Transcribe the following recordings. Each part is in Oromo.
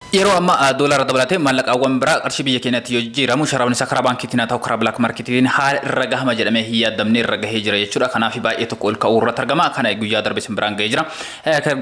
Yeroo ammaa doolaara dabalatee maallaqaawwan biraa qarshii biyya keenyaatti yoo jijjiiramu sharaafni isaa karaa baankiitiin haa ta'u karaa black market tiin haala irra gahama jedhamee hin yaaddamne irra gahee jira jechuudha. Kanaafi baay'ee tokko ol ka'uu irratti argama. Kana guyyaa darbe isin biraan gahee jira.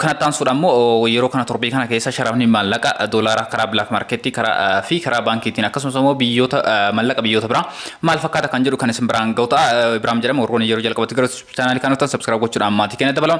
Kanatti aansuudhaan immoo yeroo kana torbee kana keessa sharaafni maallaqa doolaara karaa black market karaa fi karaa baankiitiin akkasumas immoo biyyoota maallaqa biyyoota biraa maal fakkaata kan jedhu kan isin biraan gahu ta'a. Ibraam jedhama warroonni yeroo jalqabatti gara chaanaalii kanaa dhuftan subscribe gochuudhaan maatii keenya dabalaa.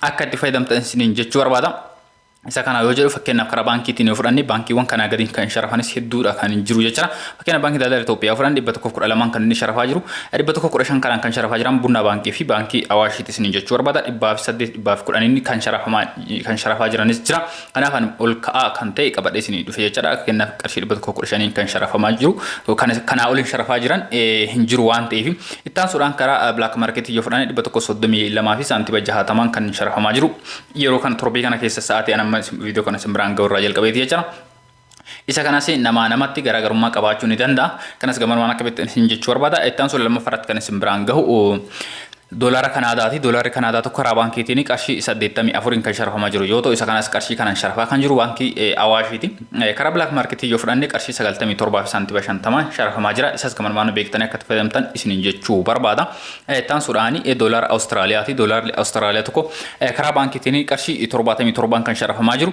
akka itti fayyadamtan isiniin jechuu barbaada. Isa kana yoo jedhu fakkeenyaaf karaa baankiitiin yoo fudhanne baankiiwwan kanaa gadiin kan sharafanis hedduudha kan hin jiru jechuudha. Fakkeenyaaf baankii daldala Itoophiyaa fudhan 112 kan inni sharafaa jiru 115 kanaan kan sharafaa jiran bunnaa baankii fi baankii awaashiitti isiniin jechuu barbaada 108 110 inni kan sharafamaa kan sharafaa jiranis jira. Kanaaf ani ol ka'aa kan ta'e qabadhee isinii dhufe jechaadha. Akka kennaaf qarshii 115n kan sharafamaa jiru. Kan kanaa oliin sharafaa jiran hin jiru waan ta'eef. Itti aansuudhaan karaa black market yoo fudhane 132 fi saantiba 60 kan sharafamaa jiru. Yeroo kana torbee kana keessa sa'aatii an amma viidiyoo kana isin biraan ga'u irraa jalqabeeti jechaadha. Isa kanas namaa namatti garaagarummaa qabaachuu ni danda'a. Kanas gamanumaan akka beektan isin jechuu barbaada. Itti aansuun lammaffaa irratti kan isin biraan gahu doolaara Kanaadaati. Doolaarri Kanaadaa tokko karaa baankiitiin qarshii 84n kan sharafamaa jiru yoo ta'u isa kanas qarshii kanaan sharafaa kan jiru baankii Awaashiiti. Karaa bilaak maarketii yoo fudhanne qarshii 97 fi saantiba 50 sharafamaa jira. Isas gamanumaan beektanii akka itti fayyadamtan isin jechuu barbaada. Itti aansuudhaan doolaara Awustiraaliyaati. Doolaarri Awustiraaliyaa tokko karaa baankiitiin qarshii 77n kan sharafamaa jiru.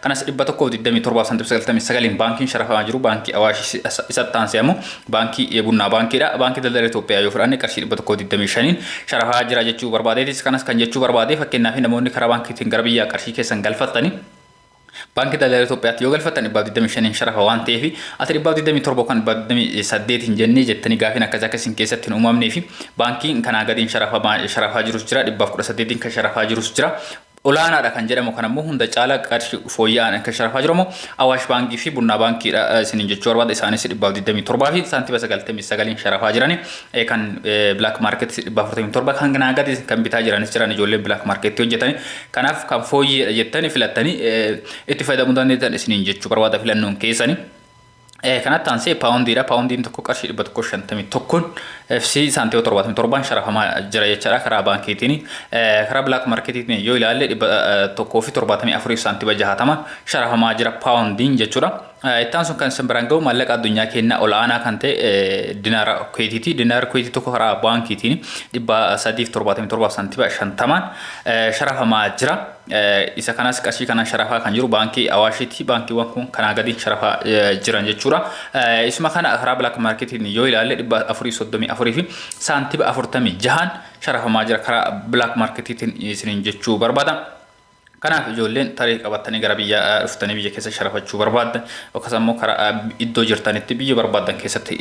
Kanas 127 fi santim 99n baankiin sharafamaa jiru baankii Awaash isatti aansee ammoo baankii Bunnaa baankiidha. Baankii daldala Itoophiyaa yoo fudhanne qarshii 125n sharafaa jira jechuu barbaadeetis. Kanas kan jechuu barbaade fakkeenyaaf namoonni karaa baankiitiin gara biyyaa qarshii keessan galfattanii baankii daldala Itoophiyaatti yoo galfattan 125n sharafa waan ta'eef ati 127 kan 128n jennee jettanii gaafiin akkasii akka isin keessatti hin uumamneefi baankiin kanaa gadiin sharafaa jirus jira 118n kan sharafaa jirus jira olaanaadha kan jedhamu kan ammoo hunda caala qarshi fooyya'aan akka sharafaa jiru ammoo Awaash Baankii fi Bunnaa Baankiidha isiniin jechuu barbaada. Isaanis 127 fi saantiba 99 sharafaa jirani. Kan Black Market 447 kan ganaa gadi kan bitaa jiranis jiran ijoolleen Black Market hojjetani. Kanaaf kan fooyyeedha jettani filattani itti fayyadamuu dandeettan isiniin jechuu barbaada filannoon keessani. Kanatti aansee paawundiidha. Paawundiin tokko qarshii 151 FC saantiima 77 sharafamaa jira jechaadha karaa baankiitiin. Karaa bilaak markeetiitiin yoo ilaalle 174 saantiima 60 sharafamaa jira paawundiin jechuudha. Ittaan sun kan isin biraan ga'u maallaqa addunyaa keenyaa ol aanaa kan ta'e dinaara kuweetiiti. Dinaara kuweetii tokko karaa baankiitiin 377 saantiima 50 sharafamaa jira. Isa kanas qarshii kanaan sharafaa kan jiru baankii Awaashiiti. Baankiiwwan kun kanaa gadiin sharafaa jiran jechuudha. Isuma kana karaa bilaak maarkeetiin yoo ilaalle dhibba afurii soddomii afurii fi saantiba afurtamii jahaan sharafamaa jira karaa bilaak maarkeetiitiin isiniin jechuu barbaada. Kanaaf ijoolleen tarii qabattanii gara biyya dhuftanii biyya keessa sharafachuu barbaaddan yookaas ammoo karaa iddoo jirtanitti biyya barbaaddan keessatti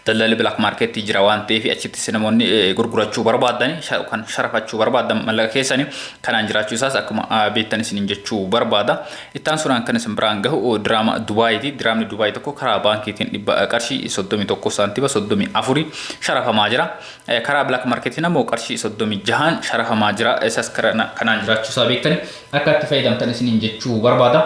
daldalli bilaak maarkeetii jira waan ta'eef achittis namoonni gurgurachuu barbaaddan kan sharafachuu barbaaddan mallaqa keessanii kanaan jiraachuu isaas akkuma beektan isiniin jechuu barbaada. Itti aansuudhaan kan isin biraan gahu diraama Dubaayiiti. Diraamni Dubaay tokko karaa baankiitiin dhibba qarshii 31 saantiba 34 sharafamaa jira. Karaa Black Marketiin ammoo qarshii 36 sharafamaa jira. Isas kanaan jiraachuu isaa beektani akka itti fayyadamtan isiniin jechuu barbaada.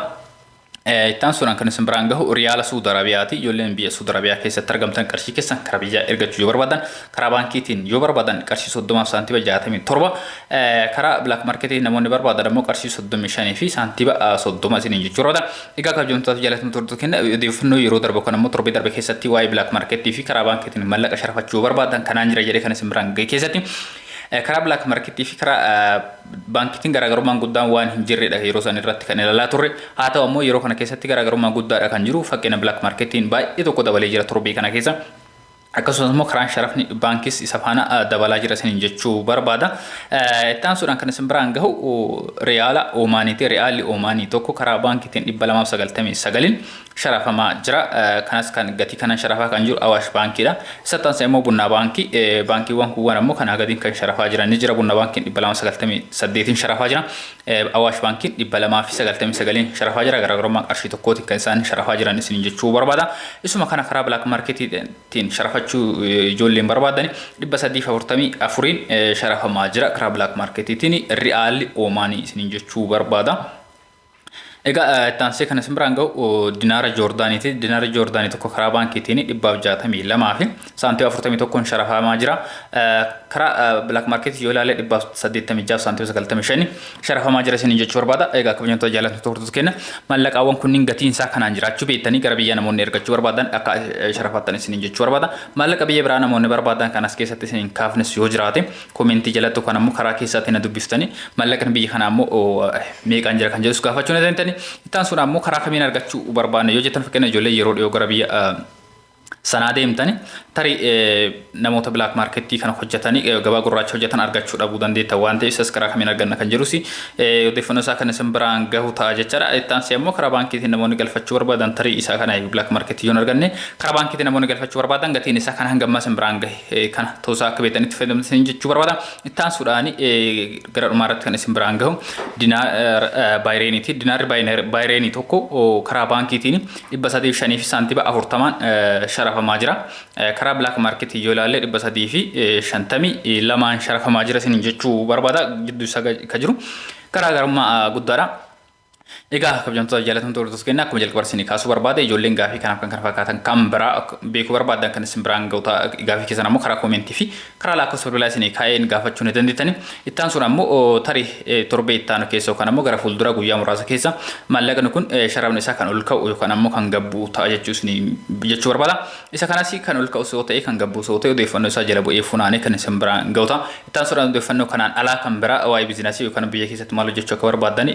Ittaan suuraan kan isin biraan gahu riyaala Suud Arabiyaati. Ijoolleen biyya Suud Arabiyaa keessatti argamtan qarshii keessan karaa biyyaa ergachuu yoo barbaadan karaa baankiitiin yoo barbaadan qarshii 30 fi saantiba 67 karaa bilaak marketii namoonni barbaadan ammoo qarshii 35 fi saantiba 30 isiniin jechuu barbaada. Egaa kabajamtoota jaalatama turtu kenna odeeffannoo yeroo darbe kan ammoo torbee darbe keessatti waa'ee bilaak marketii fi karaa baankiitiin mallaqa sharafachuu barbaadan kanaan jira jedhee kan isin biraan gahe keessatti karaa bilaak marketii fi karaa Baankitiin garaagarummaan guddaan waan hin jirredha yeroo san irratti kan ilalaa turre. Haa ta'u ammoo yeroo kana keessatti garaagarummaa guddaadha kan jiru. Fakkena black marketiin baay'ee tokko dabalee jira torbee kana keessa. Akkasumas immoo karaan sharafni baankis isa faana dabalaa jira isiniin jechuu barbaada. Itti aansuudhaan kan isin biraan gahu riyaala Oomaaniiti. Riyaalli Oomaanii tokko karaa baankitiin 299n sharafamaa jira. Kanas kan gatii kanan sharafaa kan jiru Awaash Baankiidha. Isa taansa immoo Bunnaa Baankii. Baankiiwwan kuuwwan ammoo kanaa gadiin kan sharafaa jiran ni jira. Bunna Baankiin 298n sharafaa jira. Awaash Baankiin 299n sharafaa jira. Garaagarummaa qarshii tokkootiin kan isaan sharafaa jiran isiniin jechuu barbaada. Isuma kana karaa bilaak maarketiitiin sharafachuu ijoolleen barbaadani 344n sharafamaa jira. Karaa bilaak maarketiitiin ri'aalli Oomaanii isiniin jechuu barbaada. Egaa itti aansee kan isin biraan ga'u dinaara Joordaaniiti. Dinaara Joordaanii tokko karaa baankiitiin dhibbaaf jaatamii lamaa fi saantiima afurtamii tokkoon sharafamaa jira. Karaa bilaak maarkeetii yoo ilaalle dhibbaaf saddeettamii jaaf saantiima sagaltamii shani sharafamaa jira isiniin jechuu barbaada. Egaa kabajamtoota jaalattoota hordoftoota keenya maallaqaawwan kunniin gatiin isaa kanaan jiraachuu beektanii gara biyya namoonni ergachuu barbaadan akka sharafattan isiniin jechuu barbaada. Maallaqa biyya biraa namoonni barbaadan kan as keessatti isiniin kaafnes yoo jiraate Comment jalatti yookaan ammoo karaa keessaatti na dubbiftani mallaqni biyya kanaa ammoo meeqaan jira kan jedhus gaafachuu na dandeenyani. Itti aansuun ammoo karaa kamiin argachuu barbaadna yoo jettan fakkeenya ijoollee yeroo dhiyoo gara biyya sanaa deemtani tarii namoota black markettii kana hojjetani gabaa gurraacha hojjetan argachuu dhabuu dandeetta waan ta'eef isas karaa kamiin arganna kan jedhus odeeffannoo isaa kan isin biraan gahu ta'a jechaadha. Itti aansee ammoo karaa baankiitiin namoonni galfachuu barbaadan tarii isaa kana black markettii yoo hin arganne karaa baankiitiin namoonni galfachuu barbaadan gatiin isaa kan hanga ammaa isin biraan gahe. kana toosaa akka beekanitti fayyadamtan isin jechuu barbaada. Itti aansuudhaan gara dhumaa irratti kan isin biraan gahu dinaa baayireeniiti. Dinaarri baayireenii tokko karaa baankiitiin dhibba sadii fi shanii fi saantiba afurtamaan sharafamaa jira. Karaa bilaak maarkeetiin yoo ilaalle dhibba sadii fi shantamii lamaan sharafamaa jira isin jechuu barbaada gidduu isaa ka jiru garaagarummaa guddaadha. Egaa kabjamtoota jaalatamtoota hordoftoota keenyaa akkuma jalqaba isinii kaasuu barbaade ijoolleen gaafii kanaaf kan kana fakkaatan kan biraa beekuu barbaadan kan isin biraan ga'u ta'a gaafii keessan ammoo karaa koomentii fi karaa lakkoofsa bilbilaa isinii kaa'een gaafachuu ni dandeettani. Itti aansuun ammoo tarii torbee itti aanu keessa yookaan ammoo gara fuuldura guyyaa muraasa keessa maallaqni kun sharafni isaa kan ol ka'u yookaan ammoo kan gad bu'u ta'a jechuu isinii jechuu barbaada. Isa kanas kan ol ka'us yoo ta'e kan gad bu'us yoo ta'e odeeffannoo isaa jala bu'ee funaanee kan isin biraan ga'u ta'a. Itti aansuudhaan odeeffannoo kanaan alaa kan biraa waa'ee bizinasii yookaan biyya keessatti maal hojjechuu akka barbaaddan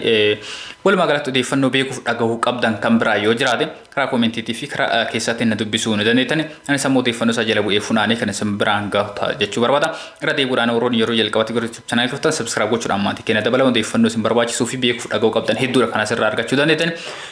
walumaa galatti odeeffannoo beekuuf dhagahuu qabdan kan biraa yoo jiraate karaa koomentiitii fi karaa keessatti na dubbisuu ni dandeettani. Anis ammoo odeeffannoo isaa jala bu'ee funaanee kan isin biraan gahu ta'a jechuu barbaada. Irra deebi'uudhaan warroonni yeroo jalqabatti gara YouTube channel dhuftan subscribe gochuudhaan maatii keenya dabalaa odeeffannoo isin barbaachisuu fi beekuuf dhagahuu qabdan hedduudha kan asirraa argachuu dandeettani.